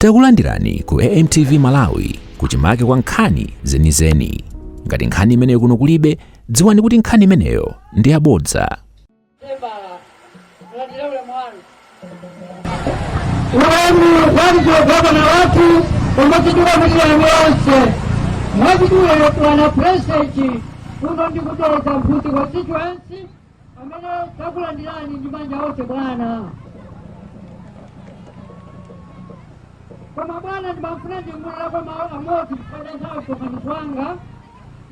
Takulandirani ku AMTV Malawi kuchimake kwa nkhani zenizeni. Ngati nkhani imeneyo kuno kulibe, dziwani kuti nkhani imeneyo ndi yabodza. Wenu walizogopa na watu omutikira milioni yonse mwezi uyo wa a Pulezidenti kuno ku Dedza Mphunzi wa constituency apa takulandirani ndi manja onse bwana koma bwana ndimafuna ndiyankhuleko mawu amodzi kupanda nthawi msonkhano wanga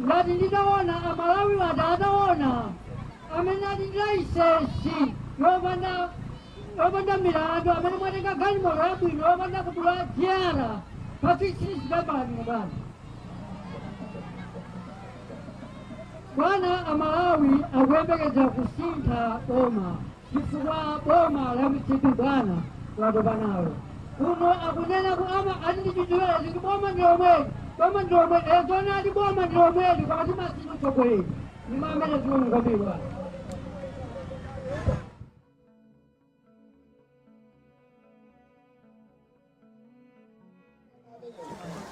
ngati nditaona amalawi atadana ataona amene ali ndi layisensi yopanda opanda milandu amene mwatenga galimoto yabwino opanda kudula jere patsitsisi zidabalabwino bwana bwana amalawi akuyembekeza kusintha boma chifukwa boma la mcp bwana atopa nalo kuno akunena kuti amati ndi chidziwera kuti boma ndi lomweli boma ndi lomweli ezona ati boma ndi lomweli koma timasintha utsogoleri ndi mamene zikuonekera bwana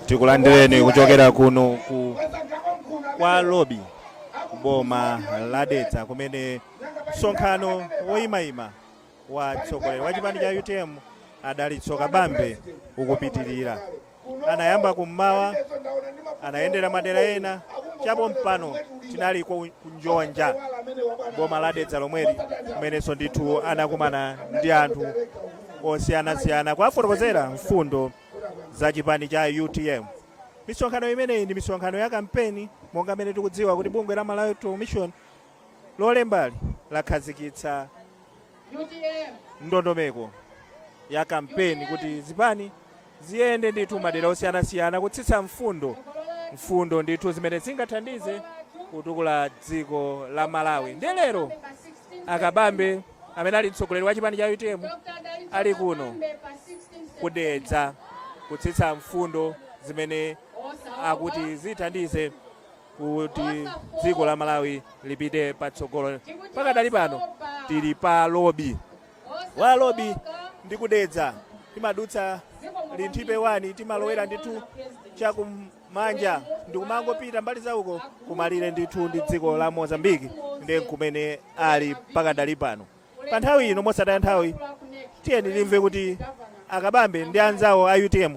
tikulandireni kuchokera kuno kwa lobi m'boma la dedza kumene msonkhano woyimayima wa mtsogoleri wa chipani cha utm a dalitso kabambe ukupitirira Anayamba kum'mawa, anayendera madera ena chapompano tinali ku Njonja m'boma la Dedza lomweli kumenenso ndithu anakumana ndi anthu osiyanasiyana kuwafotokozera mfundo za chipani cha utm misonkhano imeneyi ndi misonkhano ya kampeni monga mmene tikudziwa kuti bungwe la malawi electoral commission lomwe pano lakhazikitsa ndondomeko ya kampeni kuti zipani ziyende ndithu m'madera osiyanasiyana kutsitsa mfundo mfundo ndithu zimene zingathandize kutukula dziko la malawi ndi lero a kabambe amene ali mtsogoleri wa chipani cha utm ali kuno ku dedza kutsitsa mfundo zimene akuti zithandize kuti dziko la malawi lipite patsogolo pakadali pano tili pa lobi kwa lobi ndi ku dedza timadutsa linthipe wani timalowera ndithu chakumanja ndikumangopita mbali zauko kumalire ndithu ndi dziko la mozambiki ndi kumene ali pakadali pano pa nthawi ino mosataya nthawi tiyeni timve kuti a kabambe ndi anzawo a utm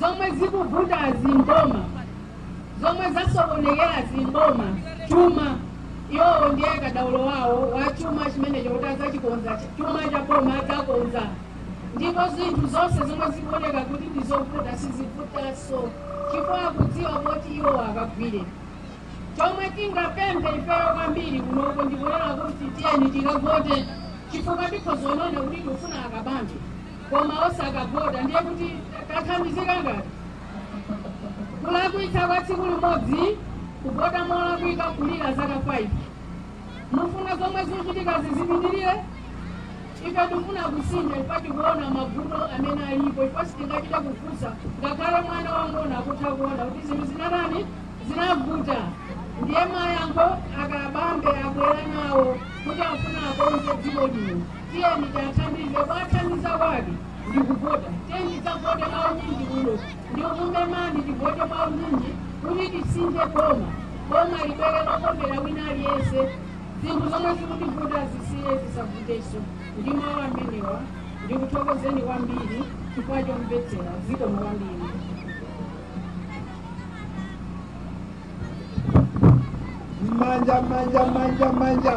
zomwe zikuvutazi m'boma zomwe zasokonekerazi m'boma chuma iwowo ndiye kadaulo wawo wa chuma chimenecho kuti adzachikonza chuma cha boma adzakonza ndipo zinthu zonse zomwe zikuoneka kuti ndizovuta sizivutanso chifukwa akudziwa kuti iwo akagwire chomwe tingapemphe ifeyo kwambiri kunoko ndikunena kuti tiyeni tikavote chifukwa tikhoza kunena kuti tikufuna a Kabambe koma osakavota ndiye kuti kathandizika ngati kulakwitsa kwa tsiku limodzi kuvota molakwika kulira zaka 5 mufuna zomwe zikuchitikazi zipitirire ife tikufuna kusintha ife tikuona mavuto amene alipo ife sitingachite kufunsa ngakhale mwana wang'ono akutha kuona kuti zinthu zinatani zinavuta ndiye mayankho a Kabambe abwera nawo kuti afuna akonze dziko lino Tiyeni tiathandize kuathandiza kwake ndi kuvota. Tiyeni tidzavote mwaunyinji kuno ndi kukumemani tivote mwaunyinji kuti tisinthe boma. Boma libwere lokomera wina aliyense, zinthu zomwe zikutivuta zisiye zisavutenso. Ndi mawu amenewa ndikuthokozeni kwambiri chifukwa chomvetsera. Zikomo kwambiri. Manja, manja, manja, manja.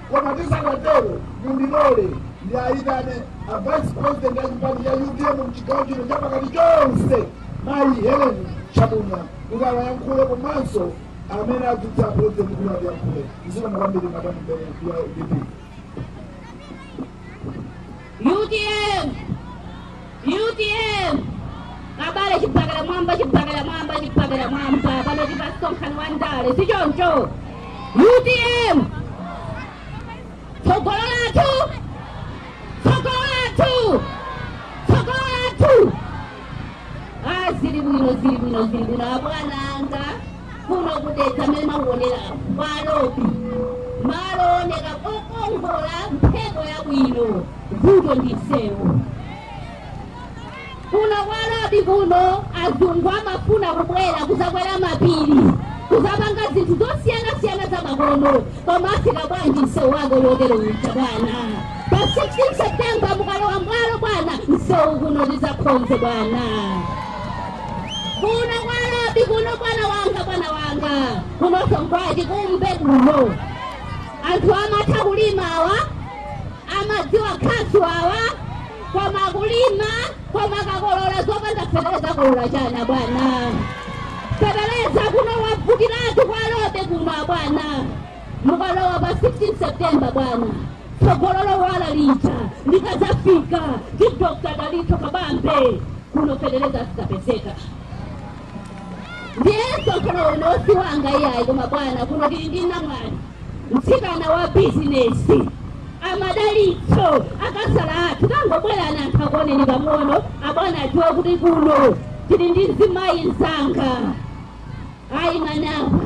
Koma tisanatero, mundilole ndiayitane a vice president a chipani cha utm mchigawo chino cha pakati chonse mayi helen chabunya kuti atiyankhule komanso amene adzutsa president kuti atiyankhule zikomo kwambiri madamu mbele ya udp UDM Utm abale chibakera mmwamba chibakera mmwamba chibakera mmwamba pano tili pamsonkhano wa ndale si choncho utm tsogolo lathu tsogolo lathu tsogolo lathu ah zili bwino zili bwino zili bwino abwana anga Kuno ku Dedza mmene mwakuonera apa kwa Alobi, malo ooneka okongola, mphepo yabwino, vuto ndi msewu. Kuno kwa Lobi kuno azungu amafuna kubwera kuzakwera mapiri kuzapanga zinthu zosiyanasiyana za makono koma afika bwanji msewu wake wotero uja bwana pa 16 septemba mukalowa m'boma bwana msewu kuno tizakonze bwana Kuno kwa Lobi kuno bwana wanga bwana wanga kunoso n'kwa achikumbe kuno anthu amatha kulima awa amadziwa khasu awa kumakulima kumakakolola zopanda feteleza akolola chani bwana feteleza kuno wavutiratu kwa Lobi kuno abwana Mukalowa pa 16 September bwana, tsogolo lowala lija likadzafika ndi Dr. Dalitso Kabambe kuno fetereza zidzapezeka. Ndiye msonkhano uno si wanga iyayi, koma bwana, kuno tili ndi namwali mtsikana wa bizinesi a Madalitso a Kasala athu tangobwerani anthu akuoneni pang'ono abwana adziwe kuti kuno tili ndi mzimayi mzanga ayi manapa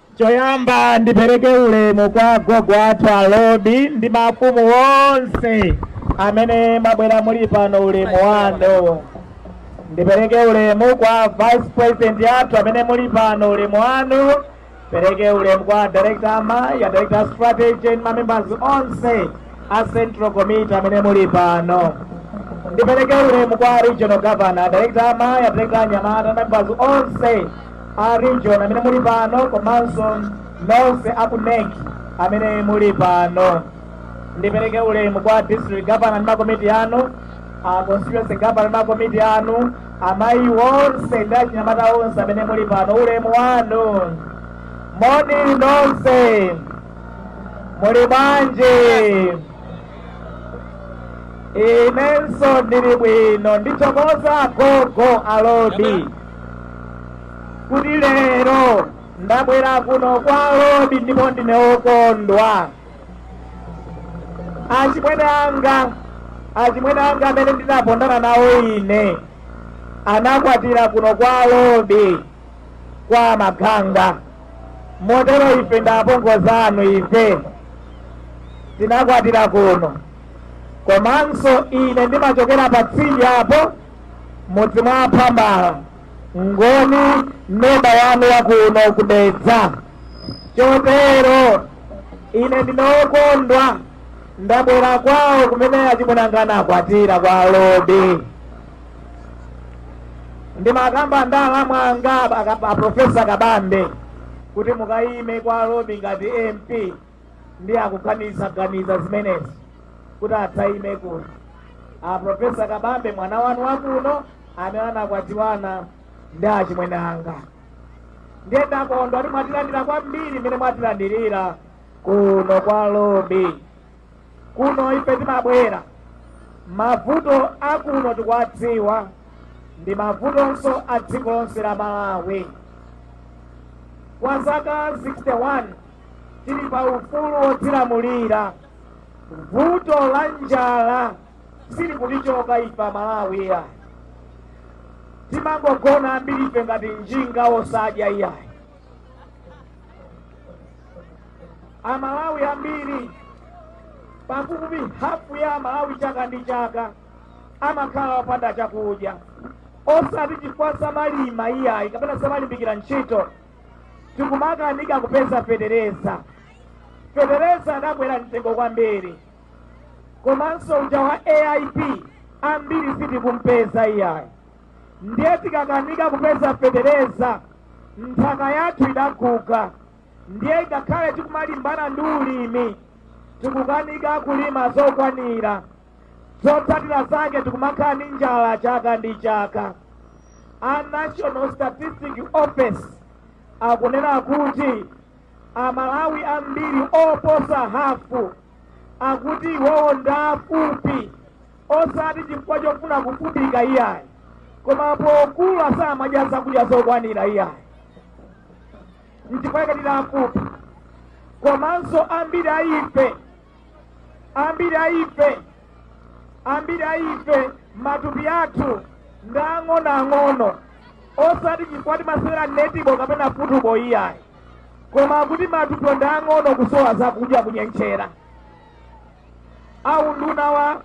Choyamba ndipereke ulemu kwa agogo athu a Lobi ndi mafumu onse amene mwabwera muli pano, ulemu wanu. Ndipereke ulemu kwa vice president athu amene muli pano, ulemu wanu. Pereke ulemu kwa director amayi, a director strategy and mamembers onse a central committee amene muli pano. Ndipereke ulemu kwa regional governor, director amayi, a director anyamata, members onse a region amene muli pano komanso nonse a ku NEC amene muli pano. Ndipereke ulemu kwa district governor ndi makomiti anu, a constituency governor ndi makomiti anu, amayi onse ndi achinyamata onse amene muli pano. Ulemu wanu. Moni nonse. Muli bwanji? inenso ndili bwino ndithokoza agogo a lobi kuti lero ndabwera kuno kwa lobi ndipo ndine wokondwa achimwene anga achimwene anga amene ndinapondana nawo ine anakwatira kuno kwa lobi kwa maganga motero ife ndi apongozi anu ife tinakwatira kuno komanso ine ndimachokera pa tsidya apo mudzi mwa phambala ngoni neba wanu wakuno ku dedza chotero ine ndine wokondwa ndabwera kwawo kumene achimwenanga anakwatira kwa lobi ndimakamba ndi alamu anga aprofesa kabambe kuti mukayime kwa lobi ngati mp ndi akuganizaganiza zimenezi kuti adzayime kuno aprofesa kabambe mwana wanu wakuno amene anakwatiwana ndi achimwene anga ndiye ndakondwa kuti mwatilandira kwambiri mmene mwatilandirira kuno kwa lobi kuno ife timabwera mavuto akuno tikuwadziwa ndi mavutonso a dziko lonse la malawi kwa zaka 61 tili pa ufulu wodzilamulira vuto la njala silikutichoka ife amalawi iyayi timangogona ambiri ife ngati njinga osadya iyayi amalawi ambiri pafupi hafu ya amalawi chaka ndi chaka amakhala opanda chakudya osati chifukwa samalima iyayi kapena samalimbikira ntchito tikumakanika kupeza fetereza fetereza adakwera mtengo kwambiri komanso uja wa aip ambiri sitikumpeza iyayi ndiye tikakanika kupeza fetereza nthaka yathu idaguga ndiye ngakhale tikumalimbana ndi ulimi tikukanika kulima zokwanira zotsatira zake tikumakhala ndi njala chaka ndi chaka a national statistics office akunena kuti amalawi ambiri oposa hafu akuti iwowo ndi afupi osati chifukwa chofuna kufupika iyayi koma pokula samadya zakudya zokwanira iyayi nchifukwa chake ndi afupi komanso ambiri a ife ambiri a ife ambiri a ife matupi athu ndi ang'onoang'ono osati chifukwa timasewera netibo kapena futubo iyayi koma kuti matupi ndi ang'ono kusowa zakudya kunyentchera aunduna wa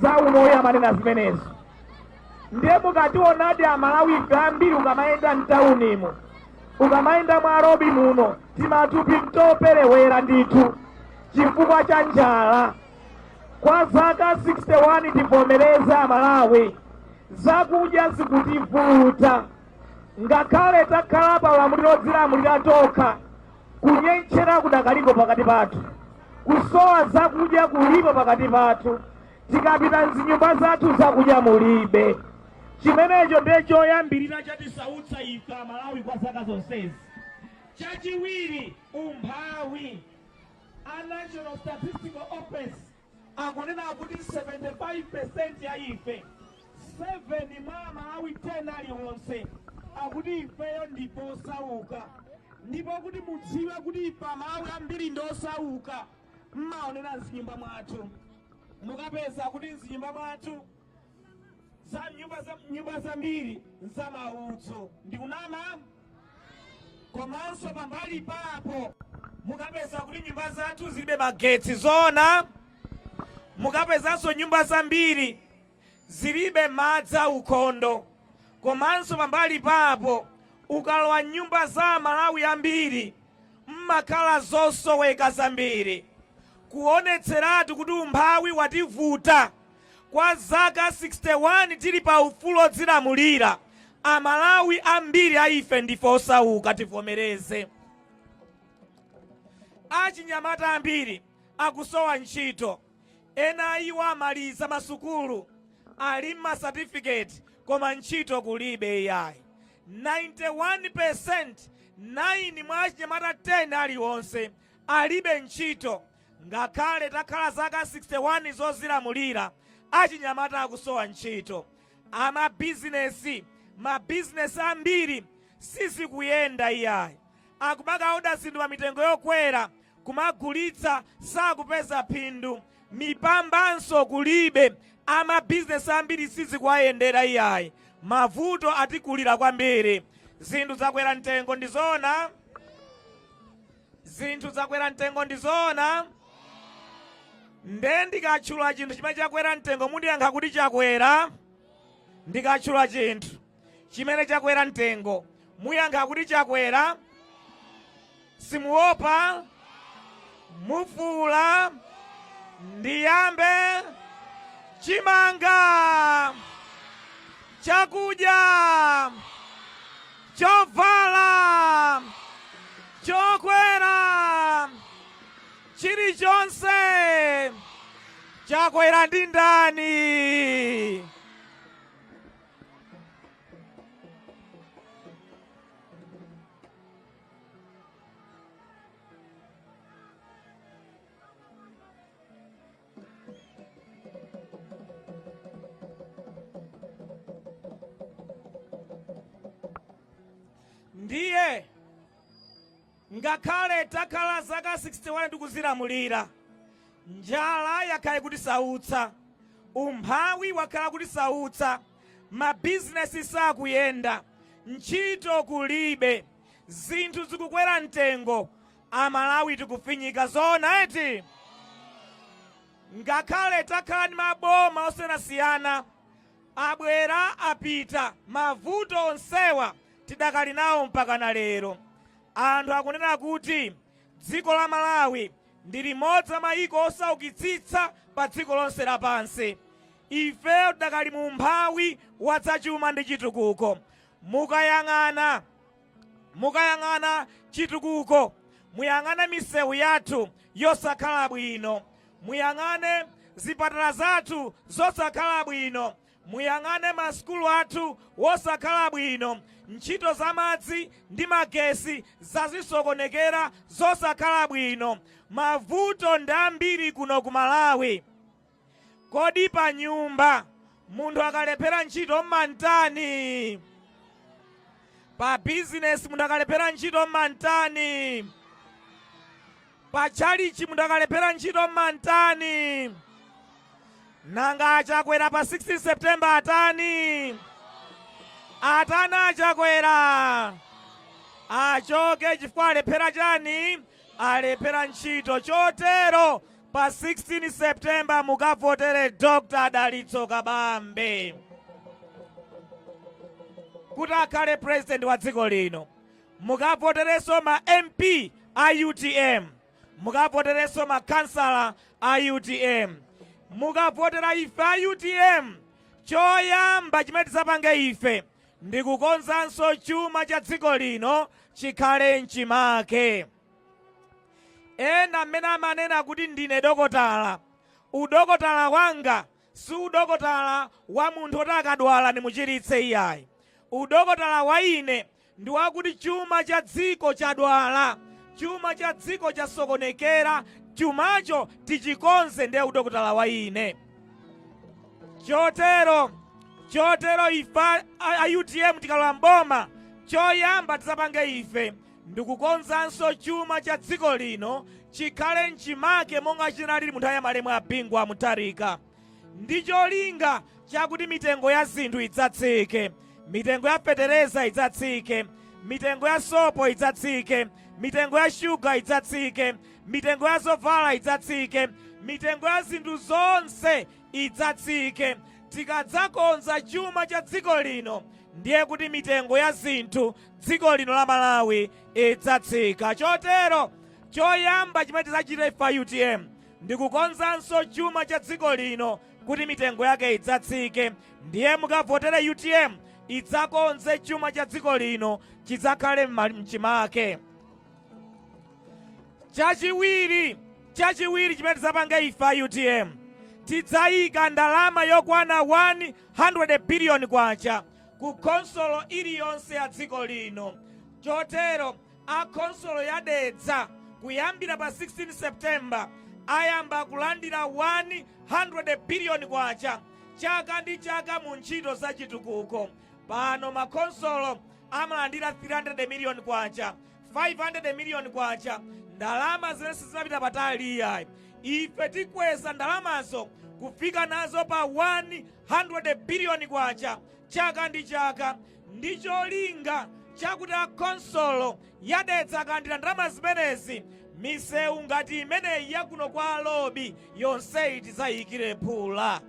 za umoyo amanena zimenezo ndiye mukationadi amalawi ife ambiri ukamayenda mtaunimu ukamayenda mwa robi muno timathupi mtoperewera ndithu chifukwa cha njala kwa zaka 61 tivomereze amalawi zakudya zikutivuta ngakhale takhala pa ulamuliro odzilamulira tokha kunyentchera kudakaliko pakati pathu kusowa zakudya kulipo pakati pathu tikapita mzinyumba zathu zakudya mulibe chimenecho ndiye choyambirira chatisautsa ife amalawi kwa zaka zonsezi chachiwiri umphawi a national statistical office Akunena kuti 75% ya ife, 7 mwa Amalawi 10 alionse, akuti ifeyo ndife osauka. Ndipo kuti mudziwe kuti ife Amalawi ambiri ndi osauka, m'maonera m'zinyumba mwathu. Mukapeza kuti m'zinyumba mwathu. nyumba zambiri nza maudzu ndikunama komanso pambali papo mukapeza kuti nyumba zathu zilibe magetsi zoona mukapezanso nyumba zambiri zilibe madzi aukhondo komanso pambali papo ukalowa nyumba za amalawi ambiri mmakhala zosoweka zambiri kuonetseratu kuti umphawi wativuta Kwa zaka 61 tili pa ufulu odzilamulira, a Malawi ambiri a ife ndife osauka tivomereze. Achinyamata ambiri akusowa ntchito, ena a iwo amaliza masukulu ali ndi ma certificate koma ntchito kulibe iyayi. 91%, 9 mwa achinyamata 10 alionse alibe ntchito. Ngakhale takhala zaka 61 zozilamulira, achinyamata akusowa ntchito. Amabizinesi, mabizinesi ambiri sizikuyenda iyayi. Akumakaoda zinthu pa mitengo yokwera, kumagulitsa sakupeza phindu. Mipambanso kulibe, amabizinesi ambiri sizikuwayendera iyayi. Mavuto atikulira kwambiri. Zinthu zakwera mtengo, ndi zoona? zinthu zakwera mtengo ndi zoona nde ndikatchula chinthu chimene chakwera mtengo mundiyankha kuti chakwera ndikatchula chinthu chimene chakwera mtengo muyankha kuti chakwera simuopa mufuula ndiyambe chimanga chakudya Chovala, chokwera, chilichonse chakwera ndi ndani? ndiye ngakhale takhala zaka 61 tikuzilamulira njala yakhala kutisautsa umphawi wakhala kutisautsa mabizinesi sakuyenda ntchito kulibe zinthu zikukwera mtengo Amalawi tikufinyika zoona eti? Ngakhale takhala ndi maboma osiyanasiyana, abwera apita, mavuto onsewa tidakali nawo mpakana lero. Anthu akunena kuti dziko la Malawi ndi limodzi la mayiko osaukitsitsa padziko lonse lapansi. Ifeyo tidakali mu umphawi wa zachuma ndi chitukuko. Mukayang'ana. Mukayang'ana chitukuko, muyang'ane misewu yathu yosakhala bwino, muyang'ane zipatala zathu zosakhala bwino, muyang'ane masukulu athu wosakhala bwino, ntchito za madzi ndi magesi zazisokonekera zosakhala bwino. Mavuto ndi ambiri kuno ku Malawi. Kodi panyumba munthu akalephera ntchito m'mamutani? Pa bizinesi munthu akalephera ntchito m'mamutani? Pa tchalichi munthu akalephera ntchito m'mamutani? Nanga a Chakwera pa 16 September atani? Atani a Chakwera? Achoke chifukwa alephera chani? Alephera ntchito chotero Pa 16 September mukavotere Dr. Dalitso Kabambe kuti akhale president wa dziko lino. Mukavoterenso ma MP a UTM, mukavoterenso makhansala a UTM, mukavotera ife a UTM. Choyamba chimene tidzapange ife ndi kukonzanso chuma cha dziko lino chikhale mchimake. Ena mmene amanena kuti ndine dokotala, udokotala wanga si udokotala wa munthu woti akadwala ndimuchiritse iyayi. Udokotala wa ine ndi wakuti chuma cha dziko chadwala, chuma cha dziko chasokonekera, chumacho tichikonze ndiye udokotala wa ine. Chotero ife a UTM tikalowa mboma choyamba tidzapange ife ndikukonzanso chuma cha dziko lino chikhale m'chimake monga chinalili mu nthawi ya malemu a Bingu wa Mutharika ndi cholinga chakuti mitengo ya zinthu idzatsike, mitengo ya fetereza idzatsike, mitengo ya sopo idzatsike, mitengo ya shuga idzatsike, mitengo ya zovala idzatsike, mitengo ya zinthu zonse idzatsike. Tikadzakonza chuma cha dziko lino ndiye kuti mitengo ya zinthu dziko lino la malawi idzatsika chotero choyamba chimene tidzachite ife a utm ndi kukonzanso chuma cha dziko lino kuti mitengo yake idzatsike ndiye mukavotere utm idzakonze chuma cha dziko lino chidzakhale mchimake chachiwiri chimene tidzapange ife a utm tidzayika ndalama yokwana 100 biliyoni kwacha ku khonsolo iliyonse ya dziko lino. Chotero a khonsolo ya Dedza kuyambira pa 16 September ayamba kulandira 100 billion kwacha chaka ndi chaka mu ntchito za chitukuko. Pano makhonsolo amalandira 300 million kwacha, 500 million kwacha, ndalama zimene sizimapita patali iyayi. Ife tikweza ndalamazo kufika nazo pa 1 100 billion kwacha chaka ndi chaka ndi cholinga chakuti a khonsolo ya Dedza akalandira ndalama zimenezi misewu ngati imeneyi yakuno kwa lobi yonseyi tidzayikire phula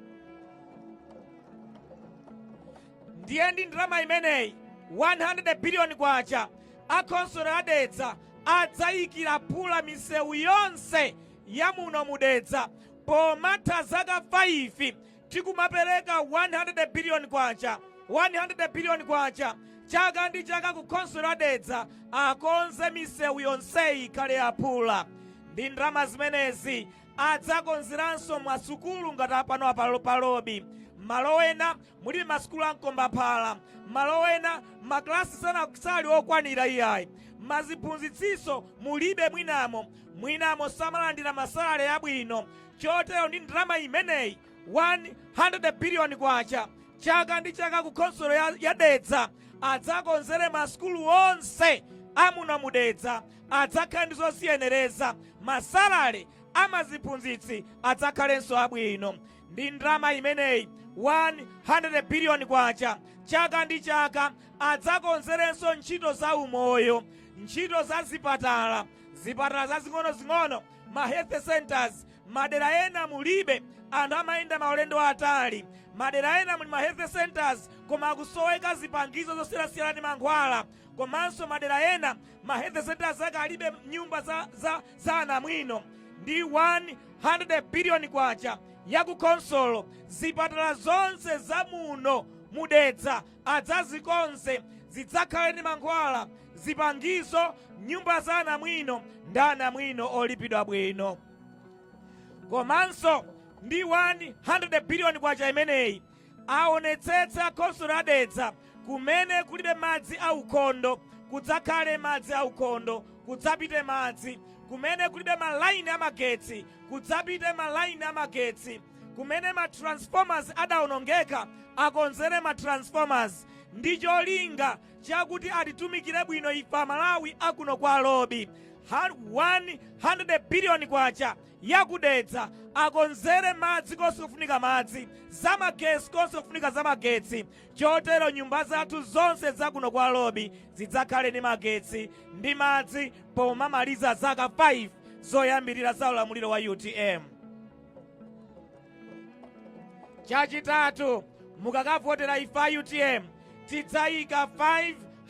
ndiye ndi ndalama imeneyi 100 billion kwacha a khonsolo ya Dedza adzayikira phula misewu yonse ya muno mu Dedza pomatha zaka 5 tikumapereka 100 billion kwacha 100 billion kwacha chaka ndi chaka ku khonsolo ya dedza akonze misewu yonseyi ikhale yaphula ndi ndalama zimenezi adzakonzeranso masukulu ngati apano apa lo pa lobi malo ena muli masukulu amkombaphala malo ena maklasi sana sali okwanira iyayi maziphunzitsinso mulibe mwinamo mwinamo samalandira masalale abwino chotero ndi ndalama imeneyi 100 biliyoni kwacha chaka ndi chaka ku khonsolo ya, ya dedza adzakonzere masukulu onse amuno mu dedza adzakhale ndi zoziyenereza masalale amaziphunzitsi adzakhalenso abwino ndi ndalama imeneyi 100 biliyoni kwacha chaka ndi chaka adzakonzerenso ntchito za umoyo ntchito za zipatala zipatala zazing'onozing'ono ma health centres madera ena mulibe anthu amayenda maulendo atali madera ena muli ma health centres koma akusoweka zipangizo zosiyanasiyana ndi mankhwala komanso madera ena ma health centres ake alibe nyumba za, za, za anamwino ndi 100 biliyoni kwacha ya ku khonsolo zipatala zonse za muno mudedza adzazikonze zidzakhale ndi mankhwala, zipangizo, nyumba za anamwino ndi anamwino olipidwa bwino. Komanso ndi 100 biliyoni kwacha imeneyi aonetsetse akhonsolo ya Dedza kumene kulibe madzi aukhondo kudzakhale madzi aukhondo, kudzapite madzi kumene kulibe malaini amagetsi kudzapite malaini amagetsi. Kumene ma transformers adaonongeka akonzere ma transformers ndi cholinga chakuti atitumikire bwino ife amalawi akuno kwa lobi. 100 billion kwacha ya ku Dedza akonzere madzi konse kufunika madzi, za magetsi konse kufunika za magetsi chotero nyumba zathu zonse za kuno kwa lobi zidzakhale ndi magetsi ndi madzi pomamaliza zaka 5 zoyambirira za ulamuliro wa utm. chachitatu mukakavotera ife a utm tidzayika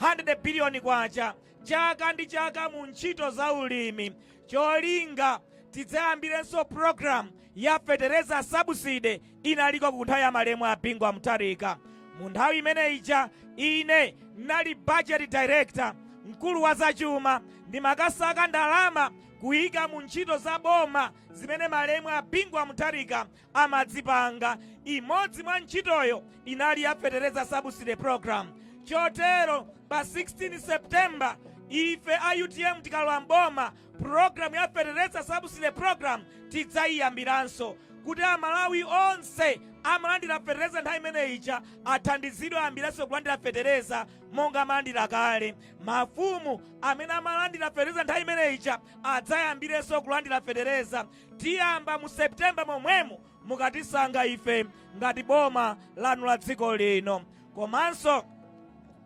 500 biliyoni kwacha chaka ndi chaka mu ntchito za ulimi cholinga tidzayambirenso programu ya fetereza sabuside inali ku nthawi ya malemu a bingu wa mutharika mu nthawi imene ija ine ndinali budget director mkulu wa zachuma ndimakasaka ndalama Kuyika mu ntchito za boma zimene malemu a Bingu wa Mutharika amazipanga, imodzi mwa ntchitoyo inali ya Fetereza Subsidy Program. Chotero pa 16 September ife a utm tikalowa m'boma, program ya Fetereza Subsidy Program tidzayiyambiranso kuti Amalawi onse amalandira fetereza nthawi imene ija athandizidwe ayambirenso kulandira fetereza monga amalandira kale. Mafumu amene amalandira fetereza nthawi imene ija adzayambirenso kulandira fetereza. Tiyamba mu September momwemu mukatisankha ife ngati boma lanu la dziko lino. Komanso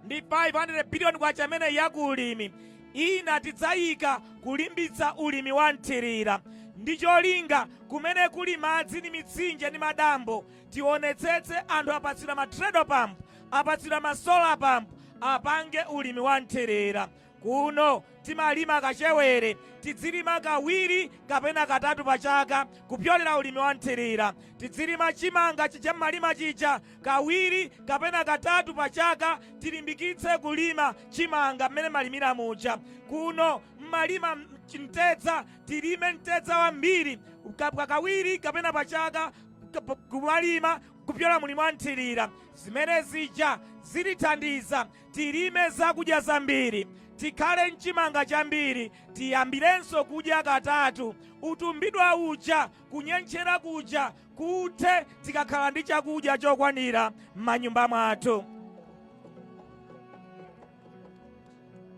ndi 500 biliyoni kwacha imeneyi ya ku ulimi ina tidzayika kulimbitsa ulimi wa mthirira ndi cholinga kumene kuli madzi ndi mitsinje ndi madambo tionetsetse anthu apatsidwa ma treadle pump apatsidwa ma solar pump apange ulimi wa mthirira kuno timalima kachewere tidzilima kawiri kapena katatu pa chaka kupyolera ulimi wa mthirira tidzilima chimanga chija mmalima chija kawiri kapena katatu pa chaka tilimbikitse kulima chimanga mmene mmalimira muja kuno mmalima mtedza tilime mtedza wambiri kawiri kapena pa chaka kumalima kupyola mu ulimi wa mthirira. Zimene zija zitithandiza tilime zakudya zambiri, tikhale nchimanga chambiri, tiyambirenso kudya katatu, utumbidwa uja, kunyentchera kuja kuthe, tikakhala ndi chakudya chokwanira m'manyumba mwathu.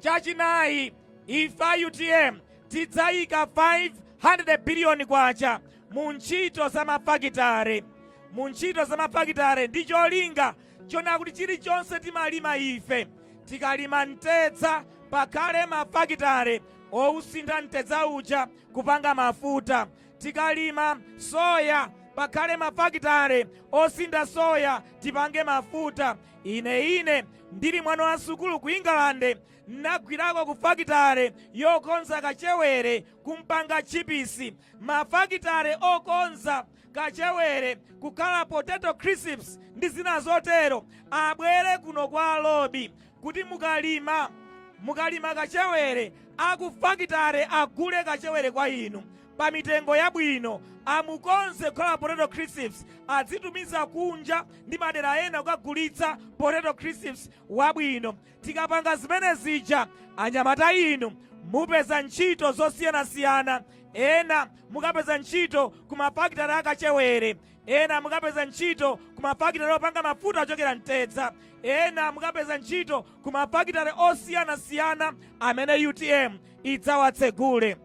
Chachinayi, ife a utm tidzayika 500 biliyoni kwacha mu ntchito za mafakitare mu ntchito za mafakitare ndi cholinga chonena kuti chilichonse timalima ife tikalima mtedza pakhale mafakitare osintha mtedza uja kupanga mafuta tikalima soya pakhale mafakitare osintha soya tipange mafuta ine ine ndili mwana wa sukulu ku ingalande nagwirako ku fakitare yokonza kachewere kumpanga tchipisi, mafakitare okonza kachewere kukhala potato crisps ndi zina zotero, abwere kuno kwa Lobi kuti mukalima kachewere akufakitare agule kachewere kwa inu pa mitengo yabwino, amukonze kukhala potato crisps adzitumiza kunja ndi madera ena kukagulitsa potato crisps wabwino. Tikapanga zimene zija anyamata inu mupeza ntchito zosiyanasiyana, ena mukapeza ntchito ku mafakitale a kachewere, ena mukapeza ntchito ku mafakitale opanga mafuta ochokera mtedza, ena mukapeza ntchito ku mafakitale osiyanasiyana amene utm idzawatsegule.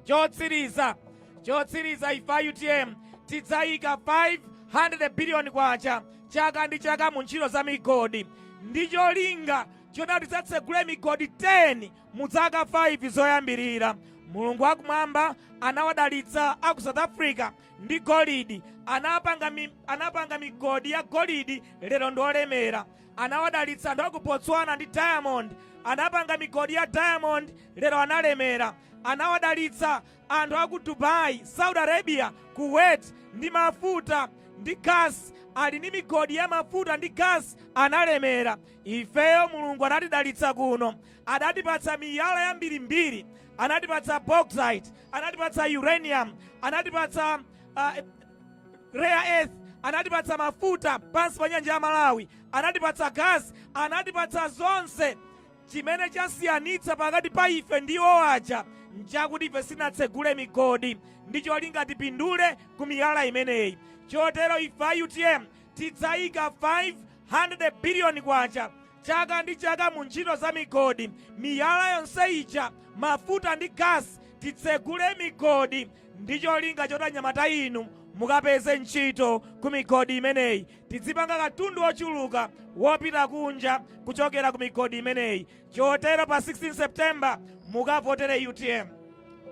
Chotsiriza, chotsiriza ife a utm tidzayika K500 biliyoni chaka ndi chaka mu ntchito za migodi ndi cholinga choti tidzatsegule migodi 10 mu zaka 5 zoyambirira mulungu wakumwamba anawadalitsa aku south africa ndi golidi anapanga migodi ya golidi lero ndi olemera anawadalitsa anthu aku botswana ndi diamond anapanga migodi ya diamond lero analemera anawadalitsa Anthu aku Dubai, Saudi Arabia, Kuwait ndi mafuta ndi gas ali ndi migodi ya mafuta ndi gas analemera. Ifeyo Mulungu anatidalitsa kuno. Adatipatsa miyala yambirimbiri. Anatipatsa bauxite, anatipatsa uranium, anatipatsa rare earth, anatipatsa mafuta pansi pa nyanja ya Malawi, anatipatsa gas, anatipatsa zonse. Chimene chasiyanitsa pakati pa ife ndi iwo aja nchakuti ife sinatsegule migodi ndi cholinga tipindule ku miyala imeneyi. Chotero ife a utm tidzayika 500 biliyoni kwacha chaka ndi chaka mu ntchito za migodi. Miyala yonse ija, mafuta ndi gasi titsegule migodi ndi cholinga choti anyamata inu mukapeze ntchito ku migodi imeneyi. tidzipanga katundu wochuluka wopita kunja kuchokera ku migodi imeneyi chotero pa 16 september mukavotere utm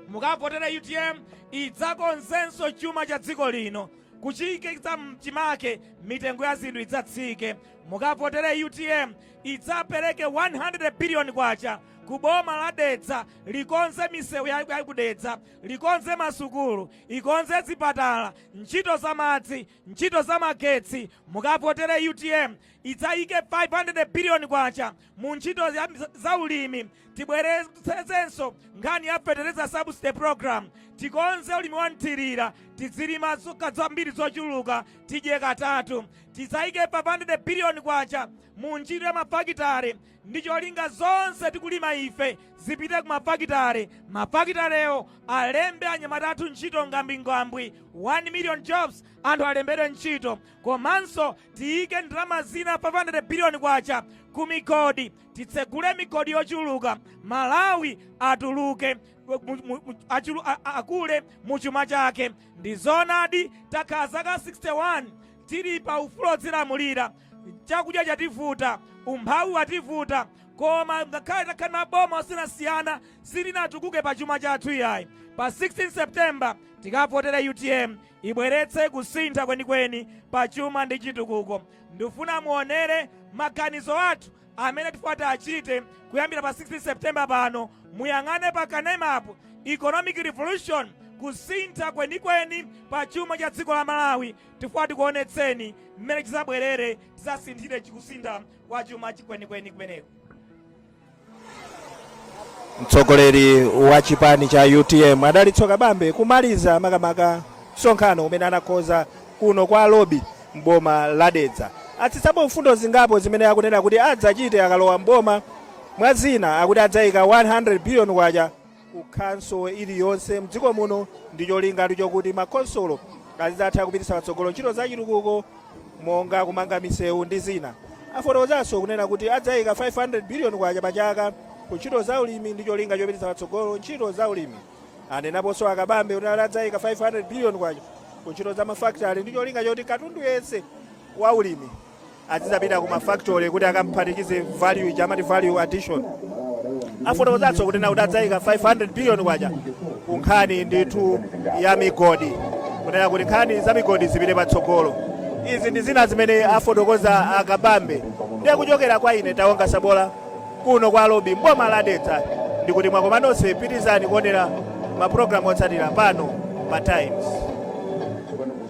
mukavotere utm idzakonzenso chuma cha dziko lino kuchiyikitsa mchimake mitengo ya zinthu idzatsike mukavotere utm idzapereke 100 biliyoni kwacha ku boma la dedza likonze misewu ya ya ku dedza likonze masukulu ikonze zipatala ntchito za madzi Ntchito za magetsi, mukavotere utm idzayike K500 billion mu ntchito za ulimi, tibweretsenso nkhani ya fetereza subsidy program, tikonze ulimi wa mthirira, tidzilima zambiri zochuluka tidye katatu, tidzayike K500 billion mu ntchito ya mafakitale, ndi cholinga zonse tikulima ife zipite ku mafakitare, mafakitarewo alembe anyamata athu ntchito ngambwingambwi, 1 million jobs, anthu alembedwe ntchito, komanso tiyike ndalama zina 500 billion kwacha ku migodi, titsegule migodi yochuluka, Malawi atuluke mu- mu- mu- achulu- a- a- akule mu chuma chake. Ndi zoonadi takhala zaka 61 tili pa ufulu odzilamulira chakudya chativuta, umphawi wativuta, koma ngakhale takhala maboma osiyanasiyana sitinatukuke pa chuma chathu iyayi. Pa 16 September tikavotere utm ibweretse kusintha kwenikweni pa chuma ndi chitukuko. Ndifuna muonere maganizo athu amene tifuna tiachite kuyambira pa 16 September pano, muyang'ane pa kanemapo economic revolution kusintha kwenikweni pa chuma cha dziko la Malawi Tifuna tikuonetseni mmene chizabwerere tizasinthire chikusintha kwa chuma chikwenikweni kumeneko. Mtsogoleri wa chipani cha utm Adalitso Kabambe kumaliza makamaka msonkhano umene anakonza kuno kwa lobi mboma la Dedza atsitsapo mfundo zingapo zimene akunena kuti adzachite akalowa mboma mwa zina akuti adzaika 100 billion kwacha ku khonsolo iliyonse mdziko muno ndi cholinga chokuti makhonsolo azidzatha kupititsa patsogolo ntchito za chitukuko monga kumanga misewu ndi zina afotokozanso kunena kuti adzayika 500 billion kwacha pa chaka ku ntchito za ulimi ndi cholinga chopititsa patsogolo ntchito za ulimi anenaponso a Kabambe kunena kuti adzayika 500 billion kwacha ku ntchito za mafakitale ndi cholinga choti katundu yense wa ulimi azidzapita ku mafactory kuti akaphatikize value ija amati value addition afotokozanso kunena kuti adzayika 500 billion kwacha ku nkhani ndithu ya migodi kunena kuti nkhani za migodi zipite patsogolo izi ndi zina zimene afotokoza a Kabambe ndiye kuchokera kwa ine taonga sabola kuno kwa lobi mboma la dedza ndikuti mwakoma nonse pitirizani kuonera mapulogalamu otsatira pano pa times